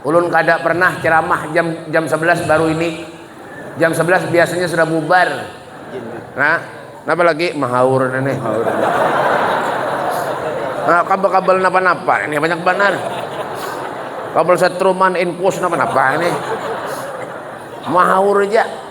Ulun kada pernah ceramah jam jam sebelas baru ini. Jam sebelas biasanya sudah bubar. Nah, napa lagi mahaur ini. Nah, kabel-kabel napa-napa ini banyak banar. Kabel setruman infus napa-napa ini. Mahaur aja.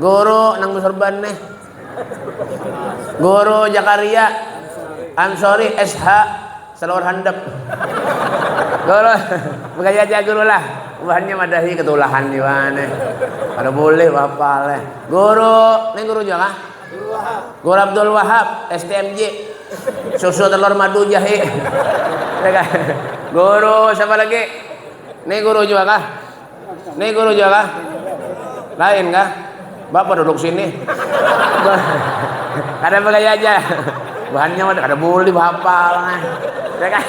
Guru nang bersorban nih. Guru Jakaria Ansori SH Selawar Handap. Guru, bukan saja guru lah. Buhannya madahi ketulahan jua nih. Kalau boleh wapal eh. Guru, nih guru juga kah? Guru Abdul Wahab STMJ. Susu telur madu jahe. Guru siapa lagi? Nih guru juga kah? Nih guru jo kah? Lain kah? Bapak duduk sini. Kada pakai aja. Bahannya ada kada boleh bahapal. Ya kan?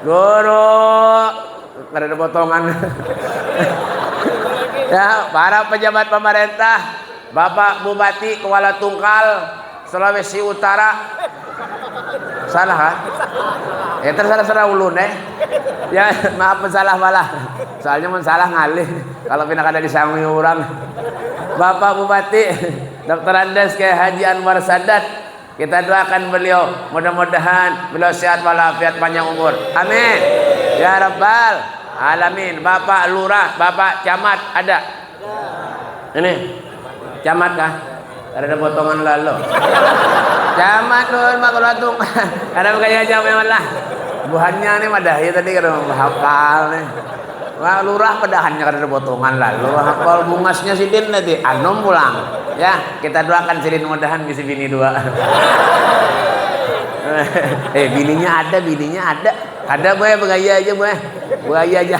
Guru, kada ada potongan. ya, para pejabat pemerintah, Bapak Bupati Kuala Tungkal, Sulawesi Utara. Salah kah? Ya terserah-serah ulun eh. Ya maaf mun salah malah. Soalnya mun salah ngalih kalau pina kada disangui urang. Bapak Bupati Dr. Andes Kyai Haji Anwar Sadat, kita doakan beliau mudah-mudahan beliau sehat walafiat panjang umur. Amin. Ya Rabbal Alamin. Bapak Lurah, Bapak Camat ada. Ini camat kah? Kada ada potongan lalu. Camat nuhun Pak Kuratung. Kada kaya jawab yang lah. Buhannya nih madahi tadi kada hafal nih. Wah, lurah padahannya kada ada potongan lalu. Hafal bungasnya sidin tadi. Anum pulang. Ya, kita doakan sidin mudahan bisi bini dua. eh, bininya ada, bininya ada. Kada boleh bergaya aja boleh. Bergaya aja.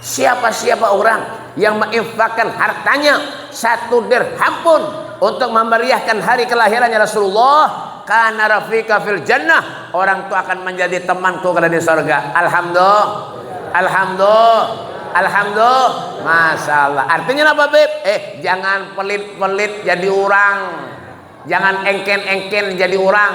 Siapa-siapa urang yang ma'infakkan hartanya satu dirham pun untuk mamariahkan hari kalahirannya Rasulullah, kana rafiqa fil jannah, orang tu akan manjadi temanku kada di sorga. Alhamdu. Alhamdu. Alhamdu. Masyaallah. Artinya napa, Bib? Eh, jangan pelit-pelit jadi urang. Jangan engken-engken jadi urang.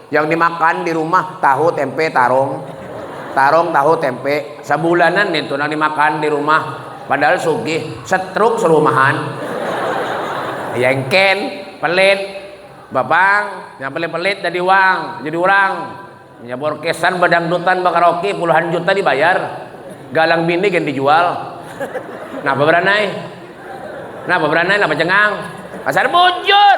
Yang dimakan di rumah tahu, tempe, tarong. Tarong, tahu, tempe. Sabulanan itu nang dimakan di rumah. Padahal sugih, setruk serumahan. Yengken, pelit. Bapang, yang pelit-pelit jadi wang, jadi urang. Punya borkesan, badangdutan, bakaraoke, puluhan juta dibayar. Galang bini gen dijual. Napa beranai? Napa beranai? Napa cengang? Pasar bujur!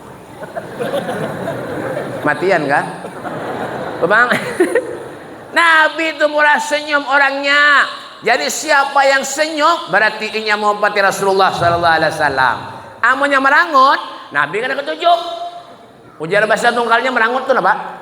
Matian kah? Bang. Nabi itu murah senyum orangnya. Jadi siapa yang senyum berarti inya menghormati Rasulullah sallallahu alaihi wasallam. Amunnya merangut, Nabi kada ketuju. Ujar bahasa tunggalnya merangut tu napa?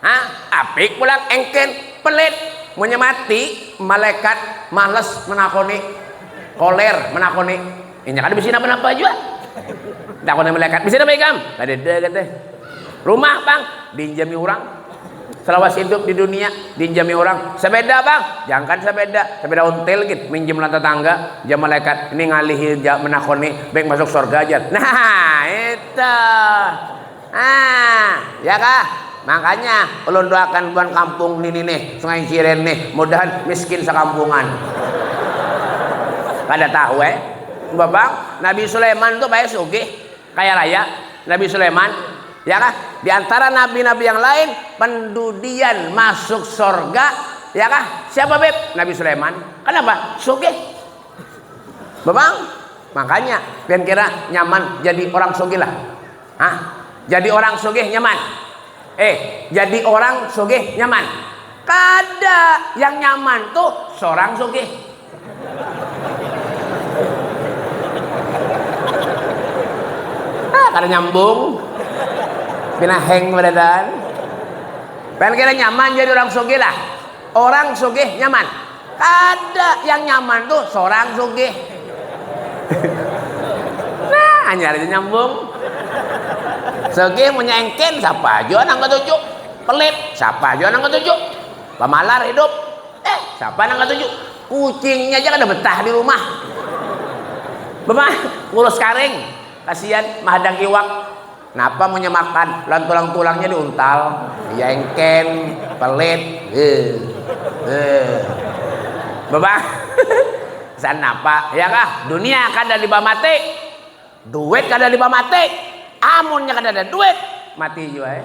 Ha, apik pulang engken, pelit. Munnya mati, malaikat males menakoni. Koler menakoni. Inya kada bisa napa-napa jua. Takoni malaikat, bisa napa ikam? Kada ada kata. Rumah bang, dinjami orang. Selawas hidup di dunia, dinjami orang. Sepeda bang, jangkan sepeda. Sepeda ontel gin, minjam lawan tetangga. Jam malaikat, ini ngalihi menakoni, baik masuk surga aja. Nah, itu. Nah, ya kah? Makanya ulun doakan buan kampung nini nih, Sungai Ciren nih, mudahan miskin sakampungan. Kada tahu eh. Babang, Nabi Sulaiman tuh kaya sugih, kaya raya. Nabi Sulaiman, ya kah? Di antara nabi-nabi yang lain, pendudian masuk sorga, ya kah? Siapa beb? Nabi Sulaiman. Kenapa? Sugih. Babang, makanya pian kira nyaman jadi orang sugih lah. Hah? Jadi orang sugih nyaman. Eh, jadi orang sugih nyaman. Kada, yang nyaman tuh seorang sugih. Ah, kada nyambung. Pina hang beradan. Kan kira nyaman jadi orang sugih lah. Orang sugih nyaman. Kada, yang nyaman tu sorang sugih. Nah, hanyar aja nyambung. Sugih munnya engkin, sapa jua nang katuju. Pelit, sapa jua nang katuju. Pamalar hidup, eh sapa nang katuju. Kucingnya aja kada betah di rumah. Bema, ngurus karing, kasian, mahadang iwak. Napa munnya makan lawan tulang-tulangnya di untal? Ya engken, pelit. Heuh. Heuh. Babang. San napa? Ya kah, dunia kada liba mati. Duit kada liba mati. Amunnya kada ada duit, mati jua.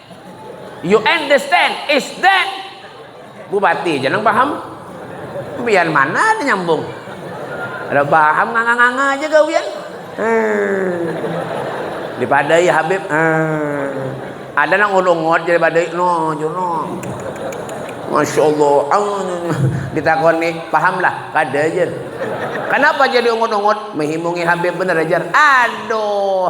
You understand? Is that? Bupati aja nang paham. Biar mana ada nyambung. Ada paham nganga-nganga aja gawian. Hmm. Dipadai Habib. Hmm. Ada nang ulungot jadi badai. No, you know. Masya Allah. Ditakoni, paham lah. Kada aja. Kenapa jadi ungut-ungut? Mehimungi Habib bener aja. Aduh.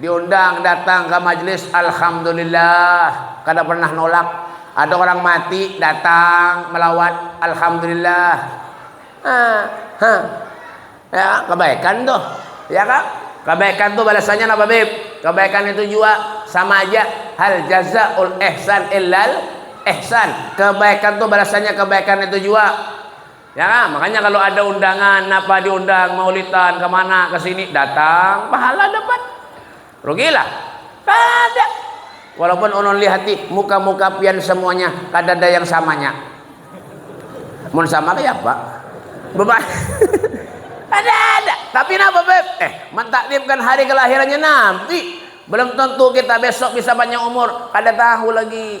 Diundang datang ka majlis alhamdulillah kada pernah nolak, ada orang mati datang melawat alhamdulillah ha ha ya kebaikan tu ya ka kebaikan tu balasannya napa bib kebaikan itu jua sama aja hal jazaul ihsan illal ihsan kebaikan tu balasannya kebaikan itu jua Ya kan? Makanya kalau ada undangan, napa diundang, maulitan, kemana, ke sini, datang, pahala dapat. Rugilah. Kada. Walaupun ulun lihati muka-muka pian semuanya kada ada yang samanya. Mun sama kayak apa? Bapak. ada ada. Tapi napa beb? Eh, mentakdimkan hari kelahirannya Nabi. Belum tentu kita besok bisa banyak umur, kada tahu lagi.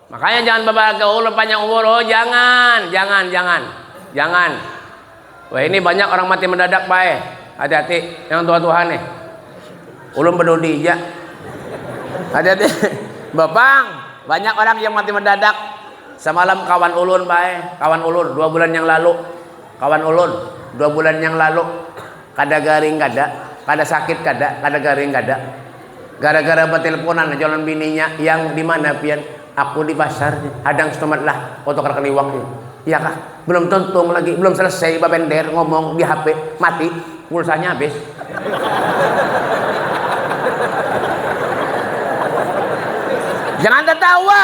Makanya jangan babalat ka ulun panjang umur oh jangan jangan jangan jangan weh ini banyak orang mati mendadak bae hati hati yang tuha tuha nih ulun bedudi ja hati hati bapang banyak orang yang mati mendadak samalam kawan ulun bae kawan ulun dua bulan yang lalu kawan ulun dua bulan yang lalu. Kada garing kada, kada sakit kada, kada garing kada. Gara-gara batelponan aja lawan bininya, Yang, di mana pian? Aku di pasar nih, hadang stumat lah, mau tukar kaliwak nih. Iya kah? Belum tuntung lagi, belum selesai babender, ngomong, di HP, mati, pulsanya habis. Jangan tatawa.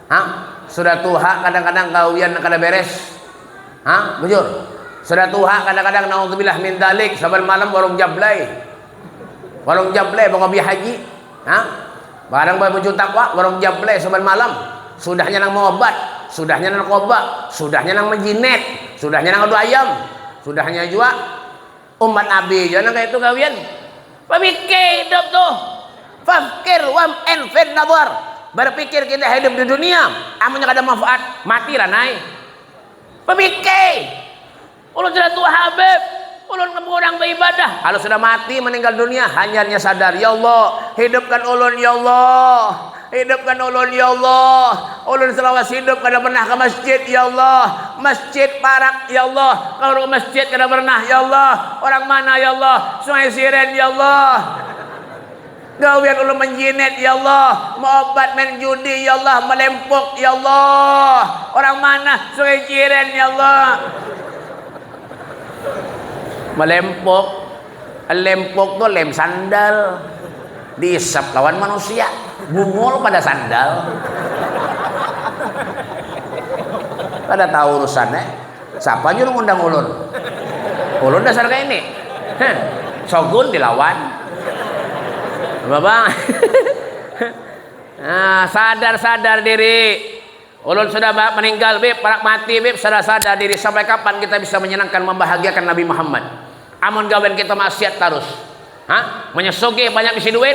Ha? Sudah tuha kadang-kadang gawian kada beres. Ha? Bujur. Sudah tuha kadang-kadang naudzubillah min dalik saban malam warung jablay. Warung jablay bakopi haji. Ha? Barang babucu takwa warung jablay saban malam. Sudahnya nang maobat, sudahnya nang narkoba, sudahnya nang majinet, sudahnya nang adu ayam, sudahnya jua Umpat abi jua nang kaitu gawian. Pamikir hidup tu. Fakir wam en fir nabar. Berpikir kita hidup di dunia. Amunnya kada manfaat, mati ranai. Pamikir. Ulun sudah tua habib. Ulun kada kurang baibadah. Kalau sudah mati meninggal dunia, hanyarnya sadar. Ya Allah, hidupkan ulun ya Allah. Hidupkan ulun ya Allah. Ulun salawas hidup kada pernah ka masjid ya Allah. Masjid parak ya Allah. Kaur ka masjid kada pernah ya Allah. Orang mana ya Allah. Sungai Siren ya Allah. Gawian ulun manjinet ya Allah. Maobat main judi ya Allah. Malempuk ya Allah. Orang mana Sungai Ciren ya Allah. Malempuk. Lempok tuh lem sandal. Diisap lawan manusia. Bungul pada sandal. Kada tahu urusannya. Siapa juru ngundang ulun? Ulun dasar kayak ini. Heh. Sogun dilawan. Babang. nah, sadar-sadar diri. Ulun sudah ba meninggal bib, parak mati bib, sadar sadar diri sampai kapan kita bisa menyenangkan membahagiakan Nabi Muhammad amun gawian kita maksiat tarus ha, munnya sugih banyak bisi duit,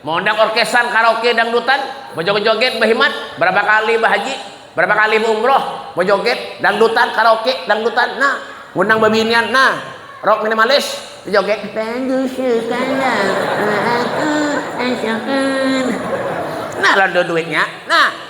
meundang orkesan, karaoke, dangdutan, bejoget joget, behimat, berapa kali behaji, berapa kali beumroh, bejoget, dangdutan, karaoke, dangdutan, nah, ngundang bebinian, nah, rock minimalis, bejoget, padusukanlah aku asakan, nah lalu duitnya, nah.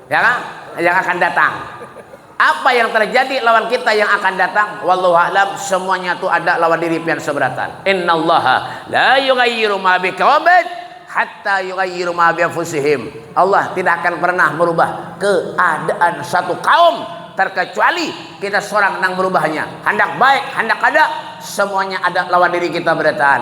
Ya kan? Yang akan datang. Apa yang terjadi lawan kita yang akan datang? Wallahu a'lam, semuanya itu ada lawan diri pian seberatan. Innallaha la yughayyiru ma biqaumin hatta yughayyiru ma bi anfusihim. Allah tidak akan pernah merubah keadaan satu kaum terkecuali kita seorang nang merubahnya. Handak baik, handak kada, semuanya ada lawan diri kita berataan.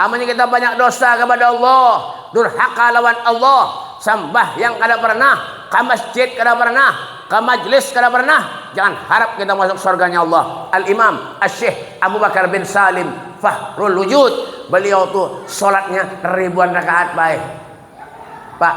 Amunnya kita banyak dosa kapada Allah, durhaka lawan Allah, sambahyang kada pernah, ka masjid kada pernah, ka majlis kada pernah, jangan harap kita masuk surganya Allah. Al-Imam Asyikh Abu Bakar bin Salim Fahrul Wujud, beliau tu sholatnya ribuan rakaat bae. Pak.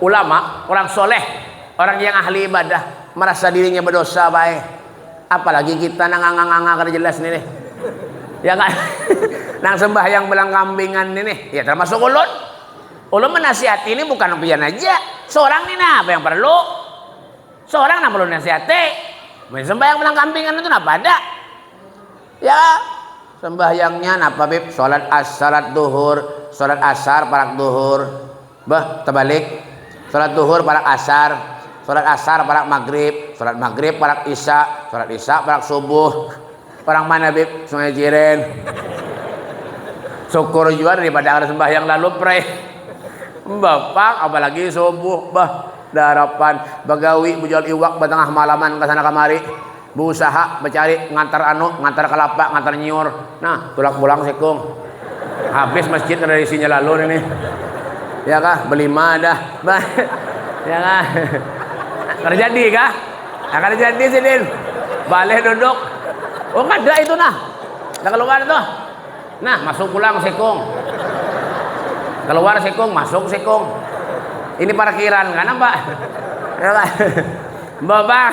Ulama, orang sholeh, orang yang ahli ibadah, merasa dirinya bedosa bae. Apalagi kita nang nganga-nganga kada jelas ni nih. Ya kan? nang sembahyang belangkambingan ni nih. Ya termasuk ulun. Ulun menasihati ini bukan pian aja. Seorang ni nah apa yang perlu? Seorang nang perlu nasihati. Main sembahyang belangkambingan itu napa ada? Ya, sembahyangnya napa bib? Salat as, salat duhur, salat asar, parak duhur. Bah, tabalik. Salat duhur parak asar, salat asar parak magrib, salat magrib parak isya, salat isya parak subuh. Parak mana bib? Sungai Ciren. Syukur jua daripada kada sembahyang lalu prei. Bah pang, apalagi subuh bah. Daharapan bagawi bajual iwak batangah malaman kasana kamari. Beusaha, becari, ngantar anu, ngantar kelapa, ngantar nyiur. Nah, tulak pulang si kung. Habis masjid kada ada isinya lalu ini. Ya kah? Belima dah. ya kah? Kada jadi kah? Nah, kada jadi sidin. Balik duduk. Oh, kada itu nah. Nah, keluar itu. Nah, masuk pulang si kung. Keluar si kung, masuk si kung. Ini parkiran kan, Pak? Ya, Pak. Bapak.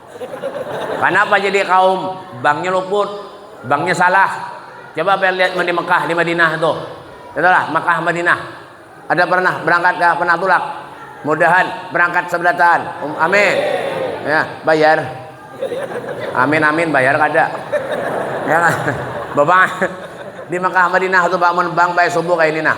Kanapa jadi kaum banknya luput, banknya salah? Coba apa yang lihat di Mekah, di Madinah tuh. Itulah Mekah, Madinah. Ada pernah berangkat gak pernah tulak? Mudahan berangkat sebelataan. Um, amin. Ya, bayar. Amin amin bayar kada. Ya kan? Bapak di Mekah Madinah tuh bangun bang baik subuh kayak ini nah.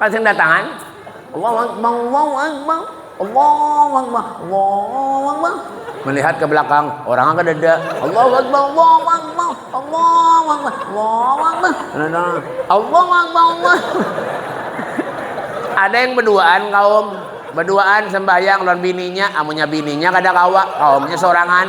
Kasing datangan. Allahu Akbar, Allahu Akbar, Allahu Akbar, Allahu Akbar. Melihat ke belakang, orang ada dada. Allahu Akbar, Allahu Akbar, Allahu Akbar, Allahu Akbar. Allahu Akbar, Allah. Ada yang berduaan kaum, berduaan sembahyang lawan bininya, amunya bininya kada kawa, kaumnya sorangan.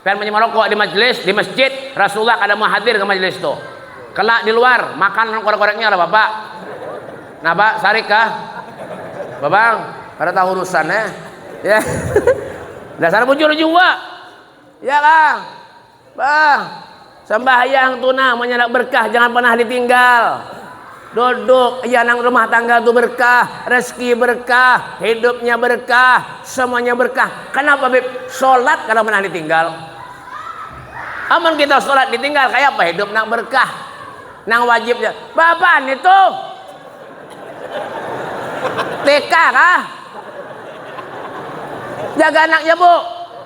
Pian munnya marokok di majlis, di masjid, Rasulullah kada mau hadir ka majlis tu. Kena di luar, makan lawan korek-koreknya lah Bapak. Napa? Sarik kah? Babang, kada tahu urusan eh. Ya. Dasar bujur jua. Ya kah? Bah. Sambahyang tu nah amunnya handak berkah jangan panah ditinggal. Duduk ya nang rumah tangga tu berkah, rezeki berkah, hidupnya berkah, semuanya berkah. Kenapa bib? Solat kada panah ditinggal. Amun kita solat ditinggal kayak apa hidup nang berkah? Nang wajibnya, bapak nih tuh. TK kah? Jaga anaknya bu.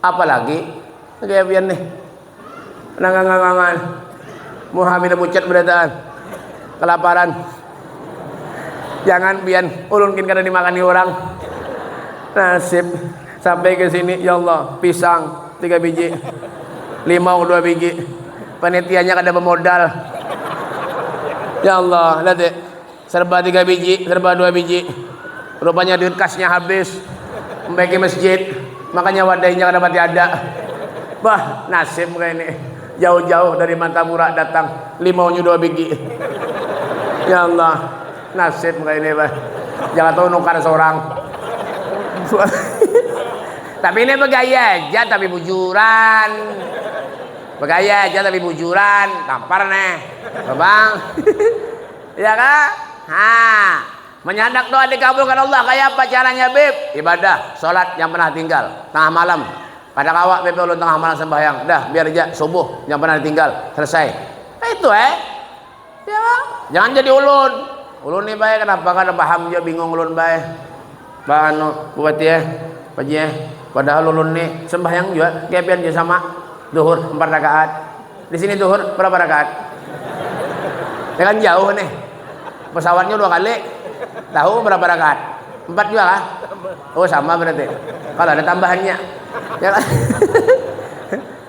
Apalagi kayak pian nih. Nangangangangan. Muha pina pucat barataan. Kalaparan. Jangan pian, ulun gin kada dimakani urang. Nasib. Sampai ka sini, ya Allah, pisang tiga biji, limau dua biji, panitianya kada bamodal. Ya Allah, lihat dek. Serba tiga biji, serba dua biji. Rupanya duit kasnya habis. Sampai ke masjid. Makanya wadainya kada pati ada. Bah, nasib kaya ini. Jauh-jauh dari Martapura datang. Limaunya dua bigi. Ya Allah. Nasib kaya ini bah. Jangan tahu nukar seorang. tapi ini begaya aja tapi bujuran. Begaya aja tapi bujuran. Tampar nih. Bang. Ya kah? Ha. Menyandak doa dikabulkan Allah kaya apa caranya bib? Ibadah, solat yang pernah tinggal, tengah malam. Kada kawa bib ulun tengah malam sembahyang, dah biar ja subuh yang pernah ditinggal, selesai. Kaitu eh. Ya kah? Jangan jadi ulun. Ulun ni bae kenapa kada paham jua bingung ulun bae. Ba anu buati eh, Pak Haji eh, padahal ulun ni sembahyang jua kaya pian jua sama, duhur empat rakaat, di sini duhur berapa rakaat? Ini kan jauh nih, pesawatnya dua kali, tahu berapa rakaat? Empat jua kah? Oh sama berarti, kalau ada tambahannya, ya kan?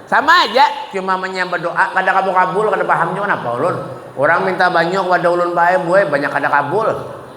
sama aja, cuma manya berdoa kada kabu kabul, kada paham jua kenapa ulun, urang minta banyu kepada ulun bae, buai banyak kada kabul.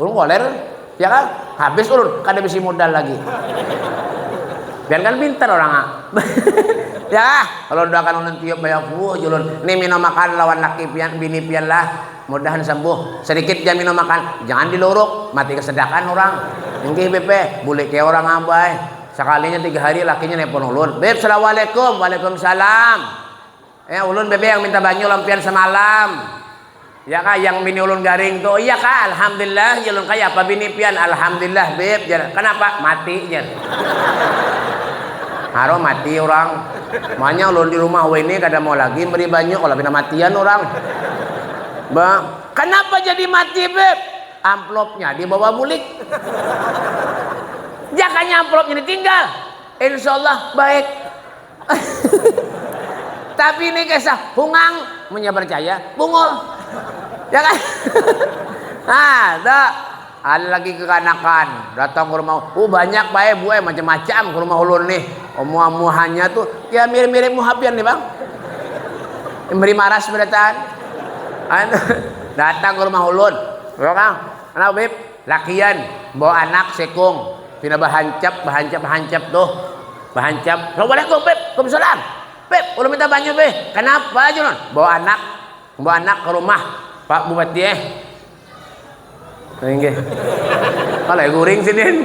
Ulun koler, ya kan? Habis ulun, kada bisi modal lagi. Biar kan pintar orang ah. ya, kalau doakan ulun tiup bayar fuh julun. Nih minum makan lawan laki pian, bini pian lah. Mudahan sembuh. Sedikit ja minum makan. Jangan diluruk, mati kesedakan orang. Inggih Beb, eh. bule kaya orang abah eh. Sekalinya tiga hari lakinya nelpon ulun. Beb, Assalamualaikum. Waalaikumsalam. Ya, ulun bebe yang minta banyu lawan pian samalam. Ya kah, yang bini ulun garing tu. Iya kah, alhamdulillah. Jar ulun, kaya apa bini pian? Alhamdulillah, beb. Jar, kanapa? Mati, jar. Haruh mati orang. Makanya ulun di rumah wini kada mau lagi beri banyu kalau pina matian orang. Ba, kanapa jadi mati, beb? Amplopnya dibawa bulik. Jakanya amplopnya ditinggal. Insya Allah baik. Tapi ini kisah hungang munya percaya bungul. Ya kan? Nah, tuh. Ada lagi kekanakan datang ke rumah. Oh, banyak bae buai macam-macam ke rumah ulun nih. Omuah-muahannya tuh ya mirip-mirip muhapian nih, Bang. Memberi maras berataan. Datang ke rumah ulun. Ya kan? Kenapa, Bib? Lakian, bawa anak sekung, pina bahancap, bahancap hancap tuh, bahancap, assalamualaikum beb, kumsalam, beb ulun minta banyu beh, kanapa jar ulun, bawa anak, bawa anak ka rumah pak bupati eh, inggih, kalo eh guring sidin.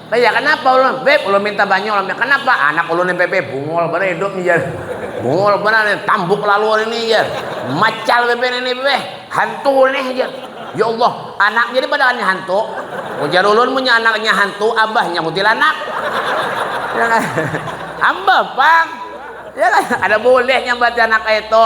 Lah ya kenapa ulun, beb ulun minta banyu lam ya kenapa, anak ulun nih beb bungul banar hidup nih jar, bungul banar nih tambuk lalu ini jar, macal beb ini beb, hantu nih jar, ya Allah anaknya nih padahal nya hantu, ujar ulun munnya anaknya hantu abahnya kuntilanak, ya kah, ambah pang, ya kah, kada bulih nyambat anak kaya itu.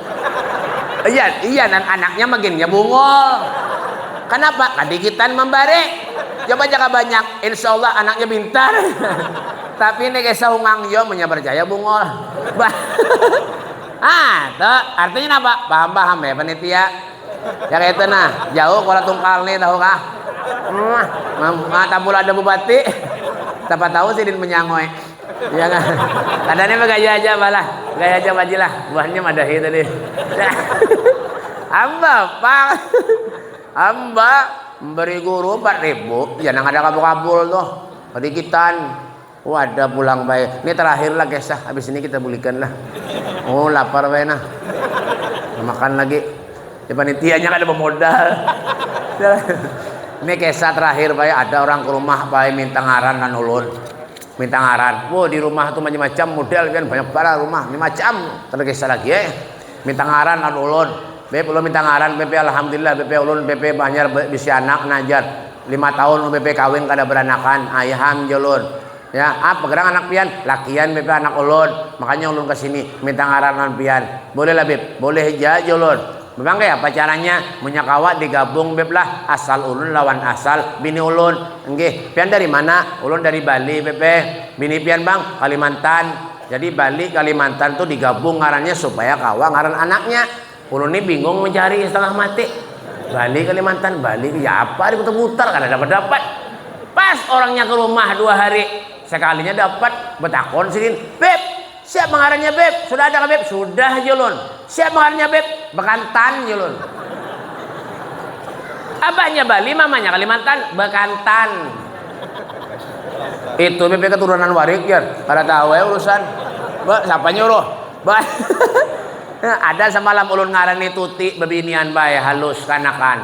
iya iya dan anaknya makinnya bungol kenapa kadikitan membari coba jaka banyak insya Allah anaknya pintar tapi ini kayak saungang yo punya percaya bungol bah ah tuh artinya apa paham paham ya panitia ya kayak itu nah jauh kalau tungkal nih tahu kah hmm, ah, ada bupati siapa tahu sidin menyangoy Iya kan? Kadanya bagaya aja balah. Gaya aja majilah. Buahnya madahi tadi. Amba pang. Amba memberi guru 4 ribu. Ya nang ada kabul-kabul tuh. Kedikitan. Oh ada pulang bay. Ini terakhir lah kisah. Habis ini kita bulikan lah. Oh lapar bay nah. Makan lagi. Di panitianya kan ada pemodal. ini kisah terakhir bay. Ada orang ke rumah bay minta ngaran dan ulun. Minta ngaran. Wah, di rumah tuh macam-macam model kan banyak barat rumah, macam-macam. Tapi kisah lagi eh. Minta ngaran lawan ulun. Beb, ulun minta ngaran beb, alhamdulillah beb, ulun beb hanyar bisi anak nah jar. Lima tahun ulun beb kawin kada beranakan. Ayham jar ulun. Ya, apa gerang anak pian? Lakian beb anak ulun. Makanya ulun ke sini minta ngaran lawan pian. Boleh lah beb? Boleh ja jar ulun. Bang kaya apa caranya munnya kawa digabung beb lah asal ulun lawan asal bini ulun. Nggih, pian dari mana? Ulun dari Bali beb e. Bini pian bang? Kalimantan. Jadi Bali Kalimantan tu digabung ngarannya supaya kawa ngaran anaknya. Ulun ni bingung mencari setengah mati. Bali Kalimantan, Bali ya apa diputar putar kada dapat dapat. Pas orangnya ke rumah dua hari sekalinya dapat betakon sidin, beb Siapa ngarannya Beb? Sudah ada kah Beb? Sudah Julun. Siapa ngarannya Beb? Bekantan Julun. Abahnya Bali, mamanya Kalimantan, Bekantan. Itu Beb keturunan warik ya, kada tahu ya urusan. Be, siapa nyuruh? Be. ada semalam ulun ngarani tuti bebinian bae halus kanakan.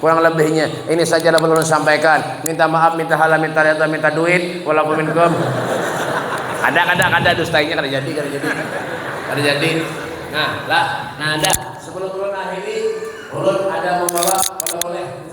Kurang lebihnya, ini saja dapat ulun sampaikan. Minta maaf, minta halal, minta redha, minta duit. Walakum minkum. Kada, kada, kada. Dustainya kada jadi, kada jadi. Kada jadi. Nah, lah. Nah, dah. Sebelum ulun akhiri, ulun ada membawa oleh-oleh.